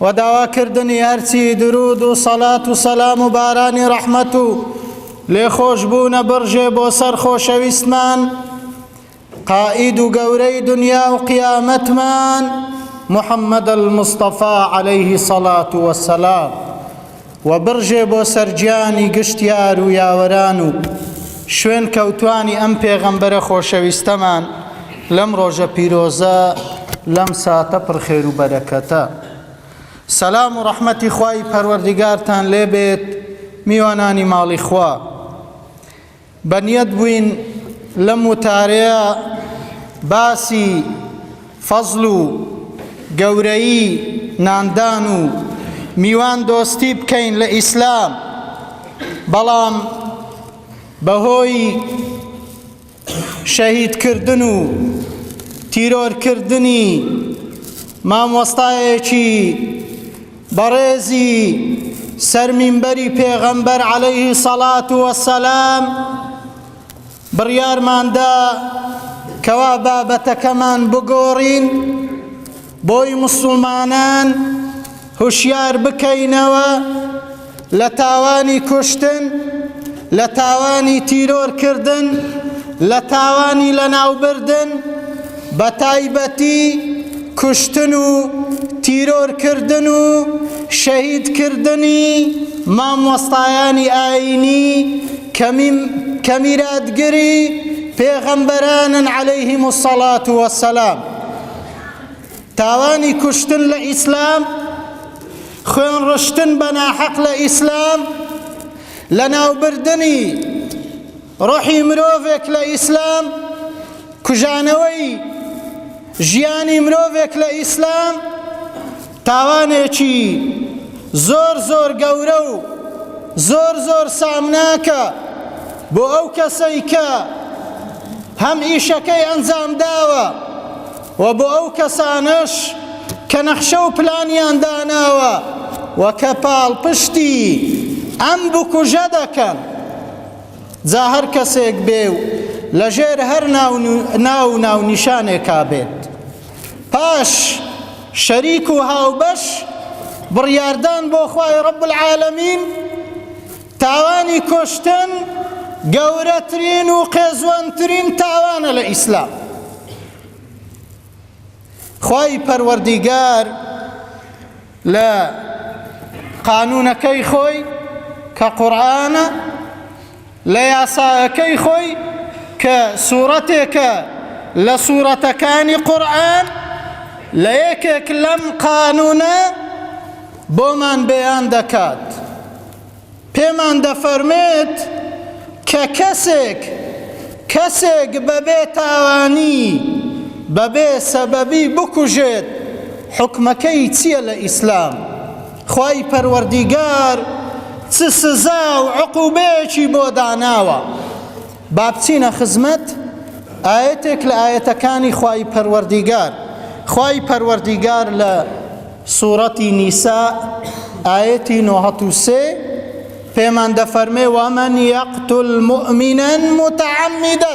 و داواکردنی هەرچی دروود و سەڵات و سەلام و بارانی ڕەحمەت و لێخۆشبوونە بڕژێ بۆ سەر خۆشەویستمان قائید و گەورەی دنیا و قیامەتمان محمد المصطفی علیه الصلاة والسلام و بڕژێ بۆ سەر گیانی گشت یار و یاوەران و شوێن کەوتوانی ئەم پێغەمبەرە خۆشەویستەمان لەم ڕۆژە پیرۆزە لەم ساتە پڕ خێر و بەرەکەتە سەلام و ڕەحمەتی خوای پەروەردیگارتان لێبێت میوانانی ماڵی خوا بەنیەت بووین لەم وتارەیە باسی فەزڵ و گەورەیی ناندان و میوان دۆستی بکەین لە ئیسلام بەڵام بەهۆی شەهیدکردن و تیرۆرکردنی مامۆستایەکی بەڕێزی سەر مینبەری پێغەمبەر عەلەیه سەڵات وەسەلام بڕیارماندا کەوا بابەتەکەمان بگۆڕین بۆی مسلمانان هوشیار بکەینەوە لە تاوانی کوشتن، لە تاوانی تیرۆر کردن، لە تاوانی لەناوبردن، بە تایبەتی کوشتن و تیرۆر کردن و شەهید کردنی مامۆستایانی ئایینی کە کە میراتگری پێغەمبەرانن علیهم الصلوة والسلام. تاوانی کوشتن لە ئیسلام، خوێن ڕشتن بە ناحەق لە ئیسلام، لەناوبردنی ڕۆحی مرۆڤێک لە ئیسلام، کوژانەوەی ژیانی مرۆڤێک لە ئیسلام تاوانێکی زۆر زۆر گەورە و زۆر زۆر سامناکە بۆ ئەو کەسەی کە هەم ئیشەکەی ئەنجام داوە وە بۆ ئەو کەسانەش کە نەخشە و پلانیان داناوە و کە پاڵپشتی ئەم بکوژە دەکەن، جا هەر کەسێک بێ و لە ژێر هەر ناو و ناونیشانێکا بێت. پاش شەریک و هاوبەش بڕیاردان بۆ خوای رب العالمین، تاوانی کوشتن گەورەترین و قێزوەنترین تاوانە لە ئیسلام. خوای پەروەردیگار لە قانونەکەی خۆی کە قورآانە لە یاساەکەی خۆی کە سوورەتێکە لە سوورەتەکانی قورآن لە یەکێک لەم قانونە بۆمان بەیان دەکات پێمان دەفەرمێت کە کەسێک کەسێک بەبێ تاوانی بەبێ سەبەبی بکوژێت حوکمەکەی چیە لە ئیسلام خوای پەروەردیگار چ سزا و عقوبەیەکی بۆ داناوە؟ بابچینە خزمەت ئایەتێک لە ئایەتەکانی خوای پەروەردیگار خوای پەروەردیگار لە سورەتی نیسا ئایەتی نۆهەت و سێ پێمان دەفەرمێ وەمەن یەقتل مؤمنا متعمدا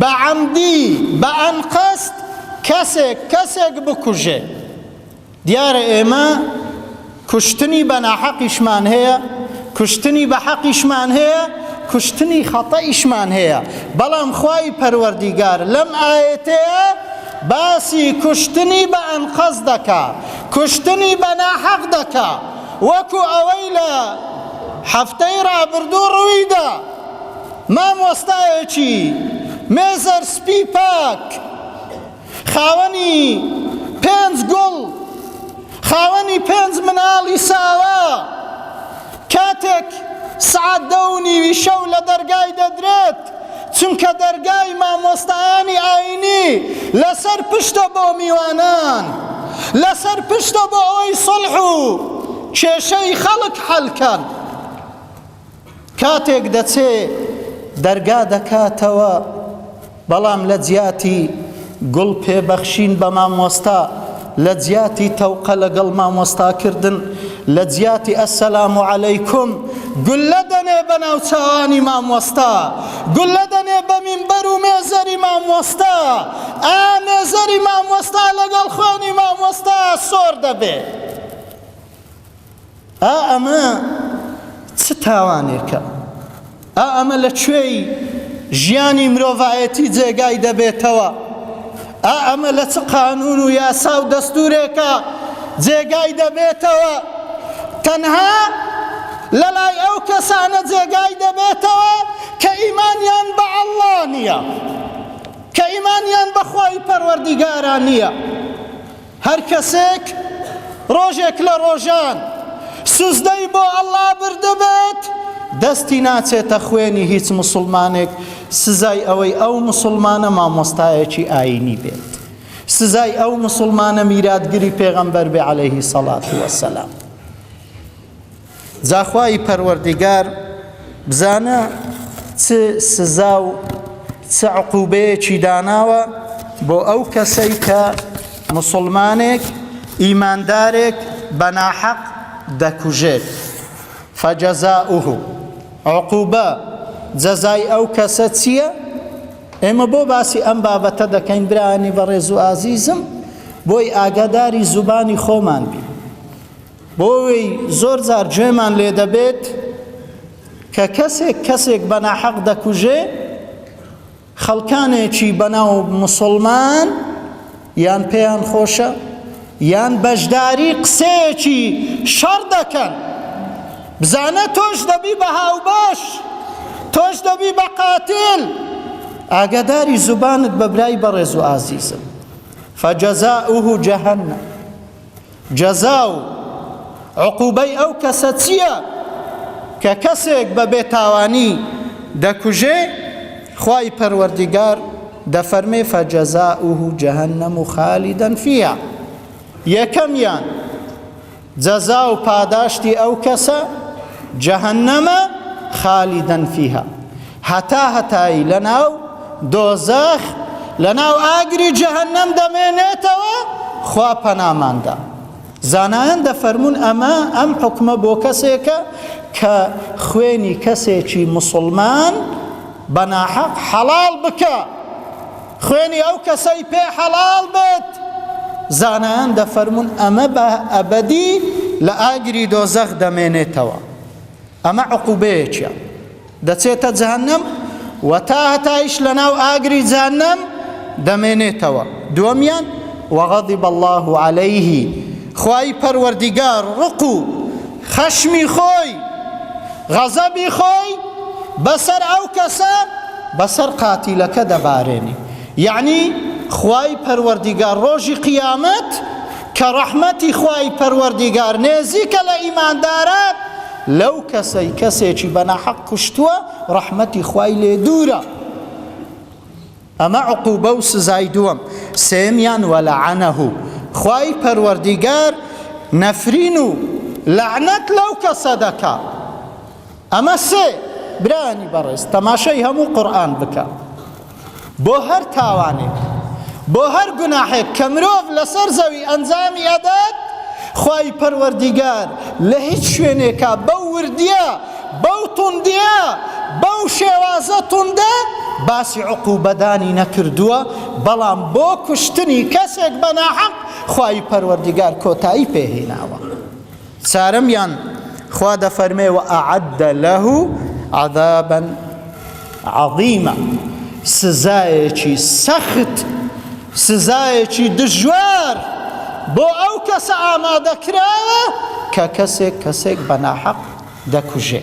بە عەمدی بە ئەنقەست کەسێک کەسێک بکوژێ دیارە ئێمە کوشتنی بە ناحەقیشمان هەیە کوشتنی بە حەقیشمان هەیە کوشتنی خەتەئیشمان هەیە بەڵام خوای پەروەردیگار لەم ئاەتەیە باسی کوشتنی بە ئەنقەست دەکا کوشتنی بە ناحەق دەکا وەکو ئەوەی لە هەفتەی ڕابردوو ڕوویدا مامۆستایەکی مێزەر سپی پاک خاوەنی پێنج گوڵ خاوەنی پێنج مناڵی ساوا کاتێک سعات دە و نیوی شەو لە دەرگای دەدرێت چونکە دەرگای مامۆستایانی ئاینی لەسەر پشتە بۆ میوانان لەسەر پشتە بۆ ئەوەی سڵح و کێشەی خەڵک حەلکەن کاتێک دەچێ دەرگا دەکاتەوە بەڵام لە جیاتی گوڵ پێ بەخشین بە مامۆستا لە جیاتی تەوقە لەگەڵ مامۆستا کردن لە جیاتی ئەسەلام و عەلەیکم گولە دەنێ بە ناوچوانی مامۆستا گولە دەنێ بە مینبەر و مێزەری مامۆستا ئا مێزەری مامۆستا لەگەڵ خوێنی مامۆستا سۆر دەبێ ئا ئەمە چ تاوانێکە؟ ئا ئەمە لە کوێی ژیانی مرۆڤایەتی جێگای دەبێتەوە؟ ئا ئەمە لە چ قانون و یاسا و دەستورێکە جێگای دەبێتەوە؟ تەنها لەلای ئەو کەسانە جێگای دەبێتەوە کە ئیمانیان بە ئەڵڵا نییە کە ئیمانیان بەخوای پەروەردیگاران نییە هەر کەسێک ڕۆژێک لە ڕۆژان سوزدەی بۆ اللە بردبێت دەستی ناچێتە خوێنی هیچ موسڵمانێک سزای ئەوەی ئەو موسڵمانە مامۆستایەکی ئاینی بێت سزای ئەو موسڵمانە میراتگری پێغەمبەر بێ عەلەیهی سەڵات وەسەلام جا خوای پەروەردیگار بزانە چ سزا و چ عقوبەیەکی داناوە بۆ ئەو کەسەی کە مسلمانێک ئیماندارێک بە ناحەق دەکوژێت فجزاؤه عقوبە جەزای ئەو کەسە چییە ئێمە بۆ باسی ئەم بابەتە دەکەین برانی بەڕێز و ئازیزم بۆی ئاگاداری زوبانی خۆمان بی بۆوەی زۆر جار گوێمان لێ دەبێت کە کەسێک کەسێک بە ناحەق دەکوژێ خەڵکانێکی بەناو مسلمان یان پێیان خۆشە یان بەشداری قسەیەکی شەڕ دەکەن بزانە تۆش دەبی بە هاوبەش تۆش دەبی بە قاتل ئاگاداری زوبانت بە برای بەڕێز و ئازیزم فجزاؤه جهنم جەزا و عقوبەی ئەو کەسە چیە کە کەسێک بە بێ تاوانی دەکوژێ خوای پەروەردیگار دەفەرمێ فجزاؤه جهنم خالدا فیها یەکەمیان جەزا و پاداشتی ئەو کەسە جهنمە خالدا فیها هەتا هەتایی لەناو دۆزەخ لەناو ئاگری جەهەنەم دەمێنێتەوە خوا پەنامان دا زانایان دەفەرمون ئەمە ئەم حکومە بۆ کەسێکە کە خوێنی کەسێکی مسلمان بەناحەق حەڵال بکە خوێنی ئەو کەسەی پێ حەڵال بێت زانایان دەفەرمون ئەمە بە ئەبدی لە ئاگری دۆزەخ دەمێنێتەوە ئەمە عقوبەیەکە دەچێتە جەهەنەم و تا هەتایش لەناو ئاگری جەهەنەم دەمێنێتەوە، دووەمیان، وغضب اللە علیه، خوای پەروەردیگار ڕق و خەشمی خۆی، غەزەبی خۆی، بەسەر ئەو کەسە، بەسەر قاتیلەکە دەبارێنی، یەعنی خوای پەروەردیگار ڕۆژی قیامەت کە ڕەحمەتی خوای پەروەردیگار نێزیکە لە ئیمانداران، لەو کەسەی کەسێکی بە ناحەق کوشتووە ڕەحمەتی خوای لێ دوورە ئەمە عقوبە و سزای دووەم سێمیان ولعنه خوای پەروەردیگار نەفرین و لەعنەت لەو کەسە دەکا ئەمە سێ برایانی بەڕێز تەماشای هەموو قورئان بکە. بۆ هەر تاوانێک، بۆ هەر گوناحێک کە مرۆڤ لەسەر زەوی ئەنجامی ئەدات، خوای پەروەردیگار لە هیچ شوێنێکا بەو وردیە، بەو توندیە، بەو شێوازە توندە باسی عقوبەدانی نەکردووە، بەڵام بۆ کوشتنی کەسێک بە ناحەق خوای پەروەردیگار کۆتایی پێهێناوە. چارەمیان، خوا دەفەرمێ، وأعد له عذابا عظیما سزایەکی سەخت، سزایەکی دژوار بۆ ئەو کەسە ئامادەکراوە کە کەسێک کەسێک بە ناحەق دەکوژێ.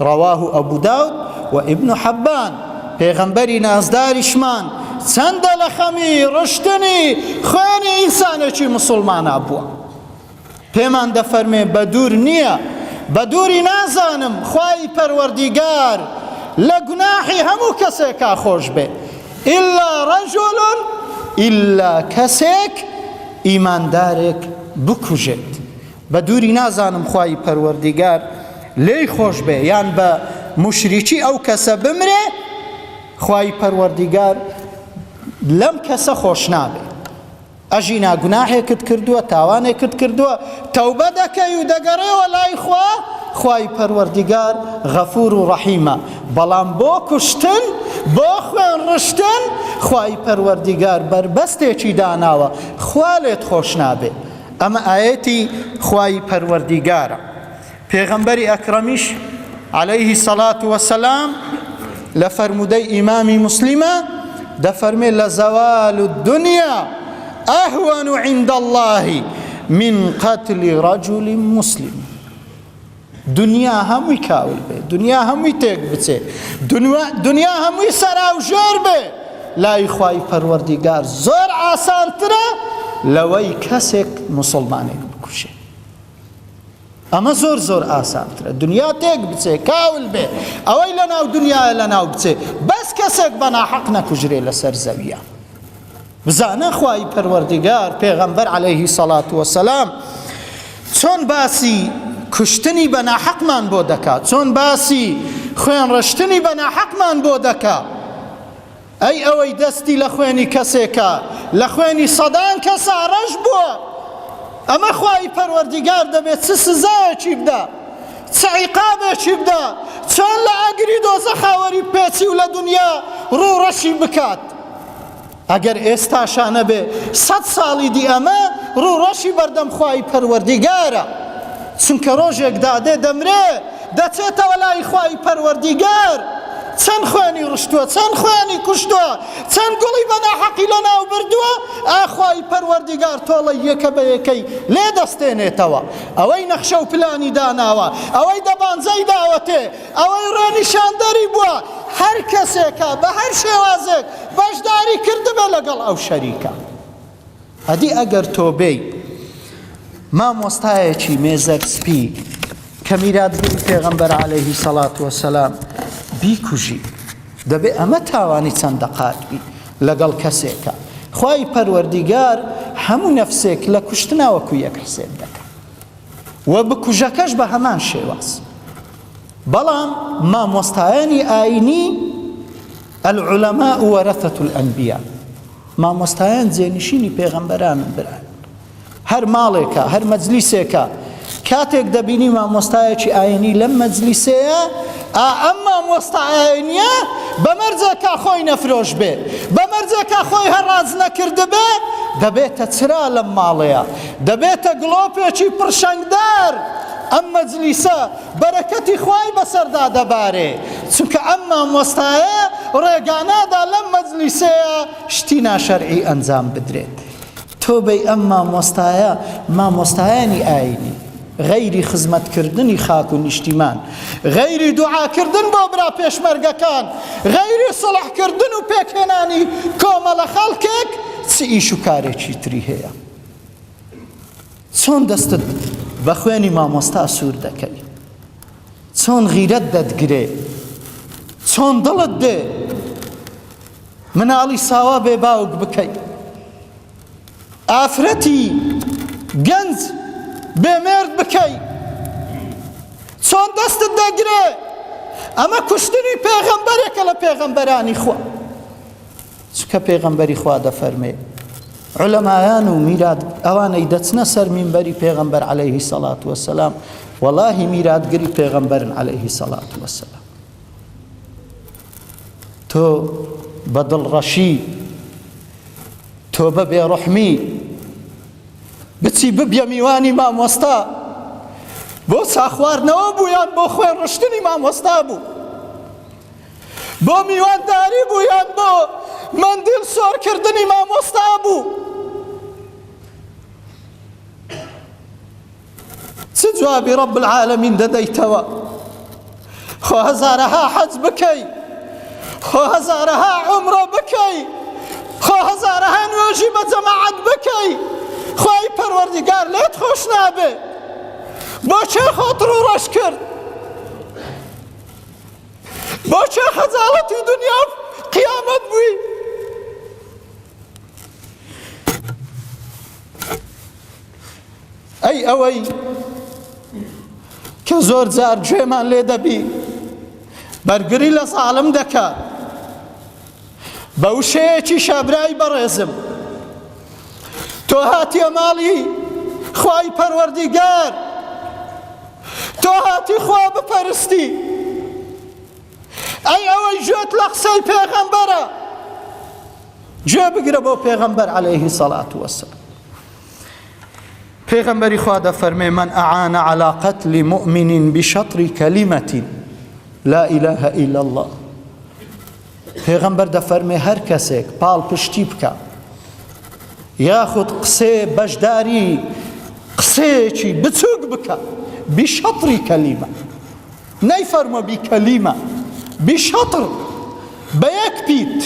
رواه ابو داود و ابن حبان، پێغەمبەری نازداریشمان چەندە لە خەمی ڕشتنی خوێنی ئینسانێکی مسوڵمانا بووە پێمان دەفەرمێ بە دوور نییە بە دووری نازانم خوای پەروەردیگار لە گوناحی هەموو کەسێکا خۆش بێ ئللا ڕەجۆلۆن ئللا کەسێک ئیماندارێک بکوژێت بە دووری نازانم خوای پەروەردیگار لێی خۆش بێ یان بە موشریکی ئەو کەسە بمرێ خوای پەروەردیگار لەم کەسە خۆش نابێ ئەژی ناگوناهێکت کردووە تاوانێکت کردووە تەوبە دەکەی و دەگەڕێەوە لای خوا خوای پەروەردیگار غەفور و ڕەحیمە بەڵام بۆ کوشتن بۆ خوێن ڕشتن خوای پەروەردیگار بەربەستێکی داناوە خوا لێت خۆش نابێ ئەمە ئایەتی خوای پەروەردیگارە، پێغەمبەری ئەکرەمیش علیە سەڵات وەسەلام لە فەرموودەی ئیمامی موسلیمە دەفەرمێ لە زەوال و دنیا ئەهوەن و عند اللهی من قتل رجل مسلم دنیا هەمووی کاول بێ، دنیا هەمووی تێک بچێ، دنیا هەمووی سەراوژێر بێ، لای خوای پەروەردیگار زۆر ئاسانترە لەوەی کەسێک موسڵمانێک بکوژێ. ئەمە زۆر زۆر ئاسانترە دنیا تێک بچێ، کاول بێ، ئەوەی لەناو دنیایە لەناو بچێ، بەس کەسێک بە ناحەق نەکوژرێ لەسەر زەوییە. بزانە خوای پەروەردگار پێغەمبەر علیه سەڵات وسلام چۆن باسی کوشتنی بە ناحەقمان بۆ دەکا چۆن باسی خوێن ڕشتنی بە ناحەقمان بۆ دەکا ئەی ئەوەی دەستی لە خوێنی کەسێکە لە خوێنی سەدان کەسا ڕەش بووە ئەمە خوای پەروەردیگار دەبێت چ سزایەکی بدا چ عیقابێکی بدا چۆن لە ئاگری دۆزە خاوەری پێچی و لە دنیا ڕوو ڕەشی بکات ئەگەر ئێستاشا نەبێ سەد ساڵی دی ئەمە ڕوو ڕەشی بەردەم خوای پەروەردیگارە چونکە ڕۆژێک دادێ دەمرێ دەچێتەوە لای خوای پەروەردیگار چەند خوێنی ڕشتووە چەند خوێنی کوشتووە چەند گوڵی بەناحەقی لە ناو بردووە ئاخوای پەروەردیگار تۆڵە یەکە بە یەکەی لێ دەستێنێتەوە ئەوەی نەخشە و پلانی داناوە ئەوەی دەبانجەی داوەتێ ئەوەی ڕێنیشاندەری بووە هەر کەسێکە بە هەر شێوازێک بەشداری کردبێ لەگەڵ ئەو شەریکە. ئەدی ئەگەر تۆ بێی مامۆستایەکی مێزەر سپی کە میراتگری پێغەمبەر عەلەیهی سەڵات وەسەلام بیکوژی دەبێ ئەمە تاوانی چەند دەقات بی لەگەڵ کەسێکە خوای پەروەردیگار هەموو نەفسێک لە کوشتنا وەکو یەک حسێب دەکە و بکوژەکەش بە هەمان شێواز بەڵام مامۆستایانی ئاینی العلماء ورثة الانبیاء مامۆستایان جێنشینی پێغەمبەرانن بران هەر ماڵێکە هەر مەجلیسێکە کاتێک دەبینی مامۆستایەکی ئاینی لەم مەجلیسەیە ئەم مامۆستا ئاینیە بەمەرجێکا خۆی نەفرۆش بێ بەمەرجێکا خۆی هەڕاز نەکردبێ دەبێتە چرا لەم ماڵەیە دەبێتە گڵۆپێکی پڕشنگدار ئەم مەجلیسە بەرەکەتی خوای بەسەردا دەبارێ چونکە ئەم مامۆستایە ڕێگانادا لەم مەجلیسەیە شتی ناشەرعی ئەنجام بدرێت تۆبەی ئەم مامۆستایە مامۆستایانی ئاینی غەیری خزمەت کردنی خاک و نیشتیمان غەیری دوعا کردن بۆ برا پێشمەرگەکان غەیری سڵح کردن و پێکهێنانی کۆمەڵە خەڵکێک چ ئیش و کارێکی تری هەیە چۆن دەستت بە خوێنی مامۆستا سوور دەکەی چۆن غیرەت دەتگرێ چۆن دڵت دێ مناڵی ساوا بێ باوک بکەی ئافرەتی گەنج بێمێرد بکەی چۆن دەستت دەگرێ ئەمە کوشتنی پێغەمبەرێکە لە پێغەمبەرانی خۆ چونکە پێغەمبەری خوا دەفەرمێ علەمایان و میرات ئەوانەی دەچنە سەر مینبەری پێغەمبەر عليهەیهی سەڵات وەسەسلام وەڵاهی میراتگری پێغەمبەرن عليهەیهی سەڵات وەسەسلام تۆ بە دڵڕەشی تۆ بە بێڕحمی بچی ببیە میوانی مامۆستا بۆ ساخواردنەوە بوویان بۆ خوێن ڕشتنی مامۆستا بوو بۆ میوانداری بوو یان بۆ مەندیل سۆر کردنی مامۆستا بوو چ جوابی رب العالمین دەدەیتەوە خۆ هەزارەها حەج بکەی خۆ هەزارەها عمرە بکەی خۆ هەزارەها نوێژی بە جەماعەت بکەی خۆی پەروەردگار لێت خۆش نابێ بۆ چێ خۆت ڕوڕەش کرد بۆچێ خەجاڵەتی دنیا قیامەت بووی ئەی ئەوەی کە زۆر جار گوێمان لێ دەبی بەرگری لە ساڵم دەکات بە وشەیەکیشە برای بەڕێزم تۆ هاتیە ماڵی خوای پەروەردیگار تۆ هاتی خوا بپەرستی ئەی ئەوەی گوێت لە قسەی پێغەمبەرە گوێ بگرە بۆ پێغەمبەر عەلەیهی سەڵات وەسەلام پێغەمبەری خوا دەفەرمێ من ئەعانە عەلا قەتلی مؤمنین بشەطری کەلیمەتین لا ئیلەهە ئیلا الله پێغەمبەر دەفەرمێ هەر کەسێک پاڵپشتی بکە یاخود قسێ بەشداری قسەیەکی بچووک بکە بیشەتری کەلیمە نەی فەرمە بی کەلیمە بیشەتر بە یەک پیت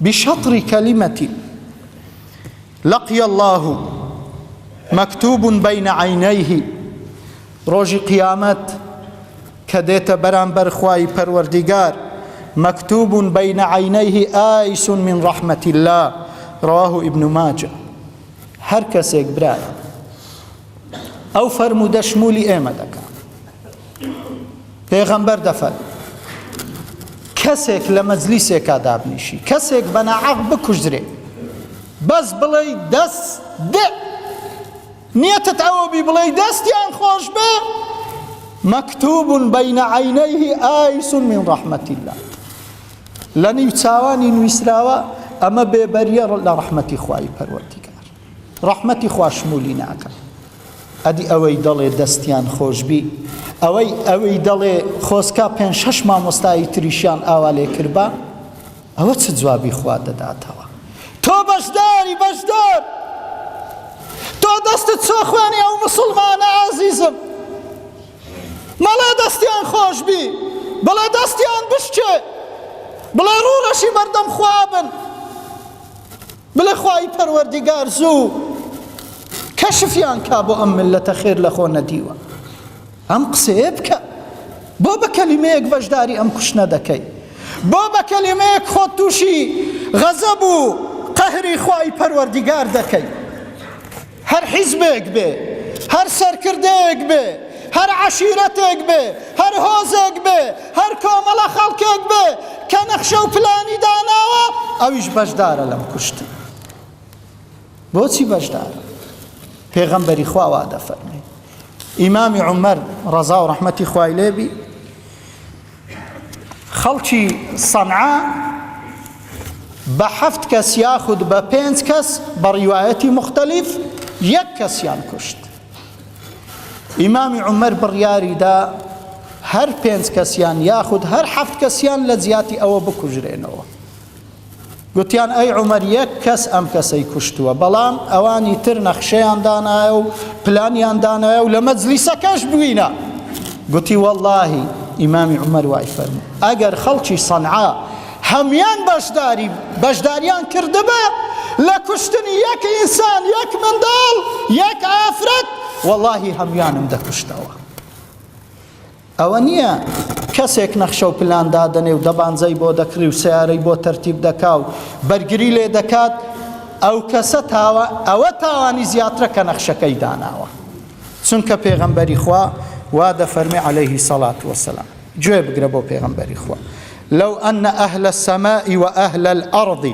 بیشەتری کەلیمەتی لقی اللە مکتوب بین عینیه ڕۆژی قیامەت کە دێتە بەرامبەر خوای پەروەردیگار مکتوب بین عینیه ئایس من ڕەحمەت اللە رواه ابن ماجە هەر کەسێک برایە ئەو فەرموودە شمولی ئێمە دەکات پێغەمبەر دەفەر کەسێک لە مەجلیسێکا دابنیشی کەسێک بە ناعەق بکوژرێ بەس بڵێ دەست دێ نیەتت ئەوە بی بڵێ دەستیان خۆش بێ مەکتوب بین عینیه ئایس من ڕحمەتی الله لە نیو چاوانی نووسراوە ئەمە بێبەریە لە ڕحمەتی خوای پەروەردی ڕەحمەتی خوا شمولی ناکەم. ئەدی ئەوەی دەڵێ دەستیان خۆشبی ئەوەی ئەوەی دەڵێ خۆزکا پێنج شەش مامۆستایی تریشیان ئاوا لێ کردبا ئەوە چ جوابی خوا دەداتەوە تۆ بەشداری بەشدار تۆ دەستت چۆخوانی ئەو مسلمانە ئازیزم مەڵێ دەستیان خۆشبی بڵێ دەستیان بشکێ بڵێ ڕوڕەشی بەردەم خوابن بڵێ خوای پەروەردیگار زوو کەشفیان کا بۆ ئەم میللەتە خێر لە خۆ نەدیوە ئەم قسەیە بکە بۆ بە کەلیمەیەک بەشداری ئەم کوشتنە دەکەی بۆ بە کەلیمەیەک خۆت تووشی غەزەب و قەهری خوای پەروەردیگار دەکەی هەر حیزبێک بێ، هەر سەرکردەیەک بێ، هەر عەشیرەتێک بێ، هەر هۆزێک بێ، هەر کۆمەڵە خەڵکێک بێ کە نەخشە و پلانی داناوە، ئەویش بەشدارە لەم کوشتن. بۆچی بەشدارە؟ پێغەمبەری خوا وا دەفەرموێ. ئیمامی عومەر، ڕەزا و ڕەحمەتی خوای لێ بی، خەڵکی سەنعا بە حەفت کەس یاخود بە پێنج کەس بە ڕیوایەتی مختلف یەک کەسیان کوشت ئیمامی عمر بڕیاریدا هەر پێنج کەسیان یاخود هەر حەفت کەسیان لە جیاتی ئەوە بکوژرێنەوە گوتیان ئەی عومەر یەک کەس ئەم کەسەی کوشتووە بەڵام ئەوانی تر نەخشەیان دانایە و پلانیان دانایە و لە مەجلیسەکەش بووینە گوتی واللهی ئیمامی عومەر وای فەرموو ئەگەر خەڵکی سەنعا هەموان بەشداری بەشداریان کردبا لە کوشتنی یەک ئینسان یەک منداڵ یەک ئافرەت واللهی هەموانم دەکوشتەوە ئەوە نییە کەسێک نەخشە و پلان دادەنێ و دەبانجەی بۆ دەکڕی و سیارەی بۆ تەرتیب دەکا و بەرگری لێ دەکات ئەو کەسە تاوە ئەوە تاوانی زیاترە کە نەخشەکەی داناوە چونکە پێغەمبەری خوا وا دەفەرمی عەلەیهی سەڵات وەسەلام گوێ بگرە بۆ پێغەمبەری خوا لو أن أهل السماء وأهل الأرض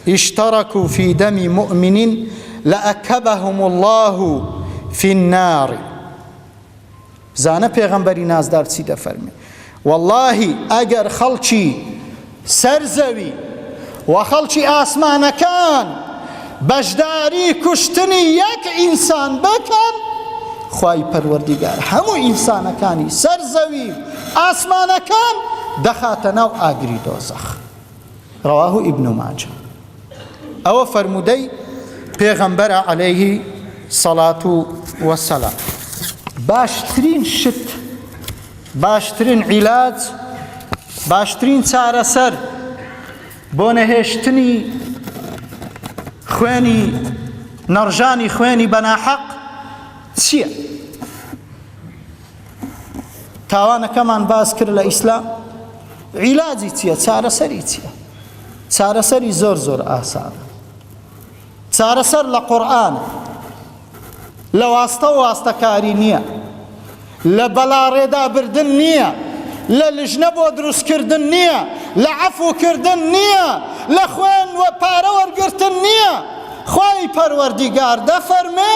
اشتركوا في دم مؤمن لأكبهم الله في النار بزانە پێغەمبەری نازدار چی دەفەرموێ وەڵاهی ئەگەر خەڵکی سەر زەوی و خەڵکی ئاسمانەکان بەشداری کوشتنی یەک ئینسان بکەن خوای پەروەردیگار هەموو ئینسانەکانی سەر زەوی ئاسمانەکان دەخاتە ناو ئاگری دۆزەخ رواه ابن ماجە ئەوە فەرموودەی پێغەمبەرە عەلەیهی سەڵات و وەسەلام باشترین شت باشترین عیلاج باشترین چارەسەر بۆ نەهێشتنی خوێنی نەڕژانی خوێنی بەناحەق چییە؟ تاوانەکەمان باس کرد لە ئیسلام عیلاجی چییە چارەسەری چییە چارەسەری زۆر زۆر ئاسانە چارەسەر لە قورآن لە واستە و واستەکاری نییە لە بەلاڕێدا بردن نییە لە لژنە بۆ دروستکردن نییە لە عەفوکردن نییە لە خوێن و پارە وەرگرتن نییە خی پەروەردیگار دەفەرمێ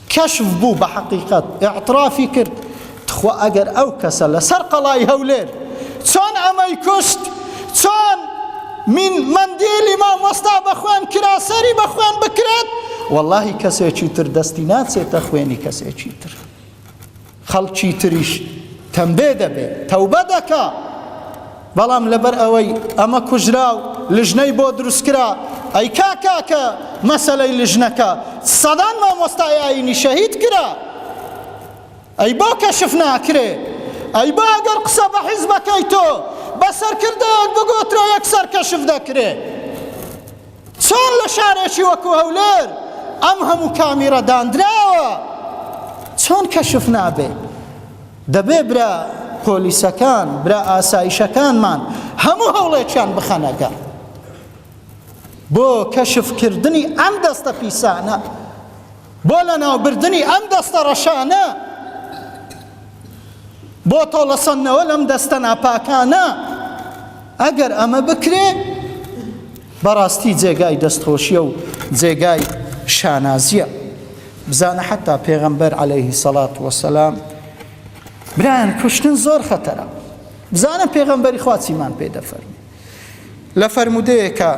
کەشف بوو بە حەقیقەت ئیعترافی کرد تخوا ئەگەر ئەو کەسە لەسەر قەڵای هەولێر چۆن ئەمەی کوشت چۆن من مندیلی مامۆستا بە خوێن کرا سەری بە خوێن بکرێت واللهی کەسێکی تر دەستی ناچێتە خوێنی کەسێکی تر خەڵکی تریش تەمبێ دەبێت تەوبە دەکا بەڵام لەبەر ئەوەی ئەمە کوژرا و لژنەی بۆ دروستکرا ئەی کاکا کە مەسەلەی لژنەکە سەدان مامۆستای ئاینی شەهید کرا ئەی بۆ کەشف ناکرێ ئەی بۆ ئەگەر قسە بە حیزبەکەی تۆ بە سەرکردەیەک بگۆترە یەکسەر کەشف دەکرێ چۆن لە شارێکی وەکو هەولێر ئەم هەموو کامیرە داندراوە چۆن کەشف نابێ دەبێ برا پۆلیسەکان برا ئاسایشەکانمان هەموو هەوڵێکیان بخەنەگە بۆ کەشفکردنی ئەم دەستە پیسانە بۆ لەناوبردنی ئەم دەستە ڕەشانە، بۆ تۆڵەسەندنەوە لەم دەستە ناپاکانە، ئەگەر ئەمە بکرێ بەڕاستی جێگای دەستخۆشیە و جێگای شانازیە. بزانە حتا پێغەمبەر عەلەیه سەڵات وەسەلام برایان کوشتن زۆر خەتەرە. بزانە پێغەمبەری خوا چیمان پێ دەفەرموو. لە فەرموودەیەکا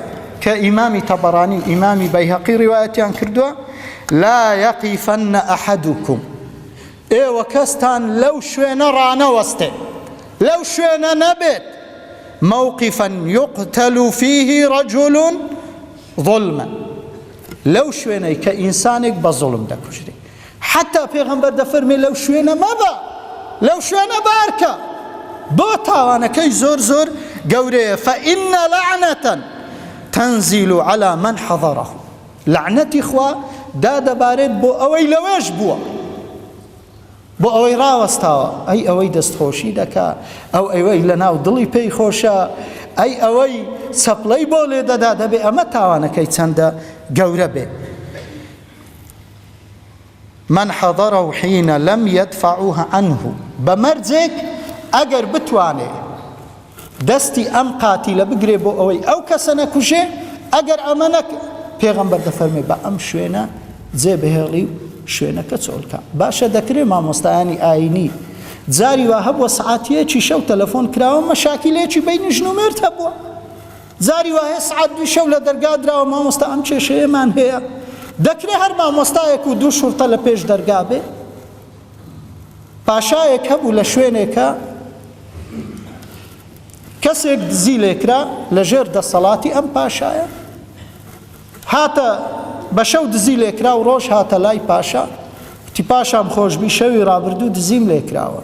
کە ئیمامی تەبەرانی و ئیمامی بەیهەقی ڕیوایەتیان کردووە، لا یەقیفن ئەحەدوکم، ئێوە کەستان لەو شوێنە ڕانەوەستێ، لەو شوێنە نەبێت، موقفا یقتل فیه رجل ظلما، لەو شوێنەی کە ئینسانێک بە زوڵم دەکوژرێ، حەتتا پێغەمبەر دەفەرموێ لەو شوێنە مەبە، لەو شوێنە بارکە، بۆ تاوانەکەی زۆر زۆر گەورەیە، فان لعنة تنزل علی من حضره، لەعنەتی خوا دادەبارێت بۆ ئەوەی لەوێش بووە، بۆ ئەوەی ڕاوەستاوە، ئەی ئەوەی دەستخۆشی دەکا، ئەو ئەوەی لەناو دڵی پێی خۆشە، ئەی ئەوەی چەپڵەی بۆ لێدەدا، دەبێ ئەمە تاوانەکەی چەندە گەورە بێ. من حضره حین لم یدفعوه عنه بە مەرجێک ئەگەر بتوانێ دەستی ئەم قاتیلە بگرێ بۆ ئەوەی ئەو کەسە نەکوژێ ئەگەر ئەمە نەک پێغەمبەر دەفەرمێ بە ئەم شوێنە جێ بهێڵی و شوێنەکە چۆلکە باشە دەکرێ مامۆستایانی ئاینی جاری وا هەبووە سعاتیەکی شەو تەلەفۆن کراوە مەشاکیلێکی بینی ژن و مێرد هەبووە جاری وایە سعات دووی شەو لە دەرگا دراوە مامۆستا ئەم کێشەیەمان هەیە دەکرێ هەر مامۆستایەک و دوو شورتە لە پێش دەرگا بێ پاشایەک هەبوو لە شوێنێکە کەسێک دزی لێکرا لە ژێر دەسەڵاتی ئەم پاشایە هاتە بە شەو دزی لێکرا و ڕۆژ هاتە لای پاشا وتی پاشام خۆشببی شەوی ڕابردوو دزیم لێکراوە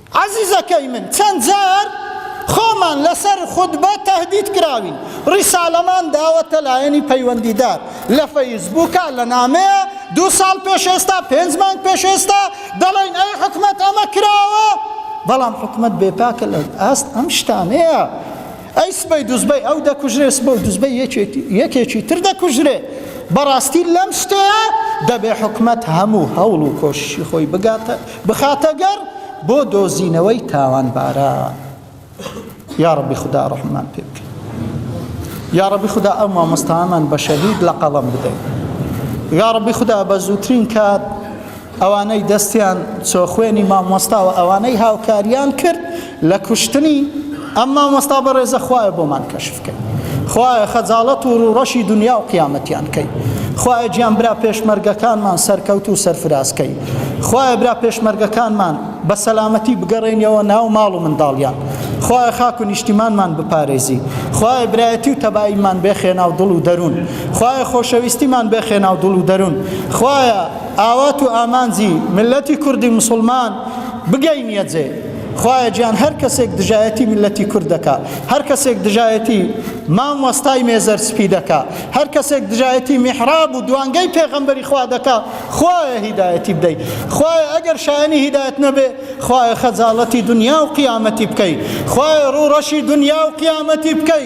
عەزیزەکەی من چەند جار خۆمان لەسەر خوتبە تەهدید کراوین ڕیسالەمان داوەتە لایەنی پەیوەندیدار لە فەیسبووکا لە نامەیە دوو ساڵ پێش ئێستا پێنج مانگ پێش ئێستا دەڵێن ئەی حکومەت ئەمە کراوە بەڵام حکومەت بێپاکە لە ئاست ئەم شتانەیە ئەی سبەی دوزبەی ئەو دەکوژرێ سبە و دوزبەی یەکێکی تر دەکوژرێ بەڕاستی لەم شتەیە دەبێ حکومەت هەموو هەوڵ و کۆششی خۆی بگاتە بخاتە گەڕ بۆ دۆزینەوەی تاوانباران یاڕەبی خودا ڕەحممان پێ بکە یاڕەبی خودا ئەو مامۆستامان بە شەهید لە قەڵم بدەین یاڕەبی خودا بە زووترین کات ئەوانەی دەستیان چۆ خوێنی مامۆستا و ئەوانەی هاوکاریان کرد لە کوشتنی ئەم مامۆستا بەڕێزە خوایە بۆمان کەشف کەی خوایە خەجاڵەت و ڕوڕەشی دنیا و قیامەتیان کەی خوایە گیان برا پێشمەرگەکانمان سەرکەوت و سەرفراز کەی خوایە برا پێشمەرگەکانمان بە سەلامەتی بگەڕێنیەوە ناو ماڵ و منداڵیان خوایە خاک و نیشتیمانمان بپارێزی خوایە برایەتی و تەباییمان بێخێنا و دڵ و دەروون خوایە خۆشەویستیمان بێخێنا و دڵ و دەروون خوایە ئاوات و ئامانجی ملەتی کوردی مسلمان بگەینیە جێ خوایە گیان هەر کەسێک دژایەتی میللەتی کورد دەکا هەر کەسێک دژایەتی مامۆستای مێزەر سپی دەکا هەر کەسێک دژایەتی میحراب و دوانگەی پێغەمبەری خوا دەکا خوایە هیدایەتی بدەی خوایە ئەگەر شایانی هیدایەت نەبێ خوایە خەجاڵەتی دنیا و قیامەتی بکەی خوایە ڕوو ڕەشی دنیا و قیامەتی بکەی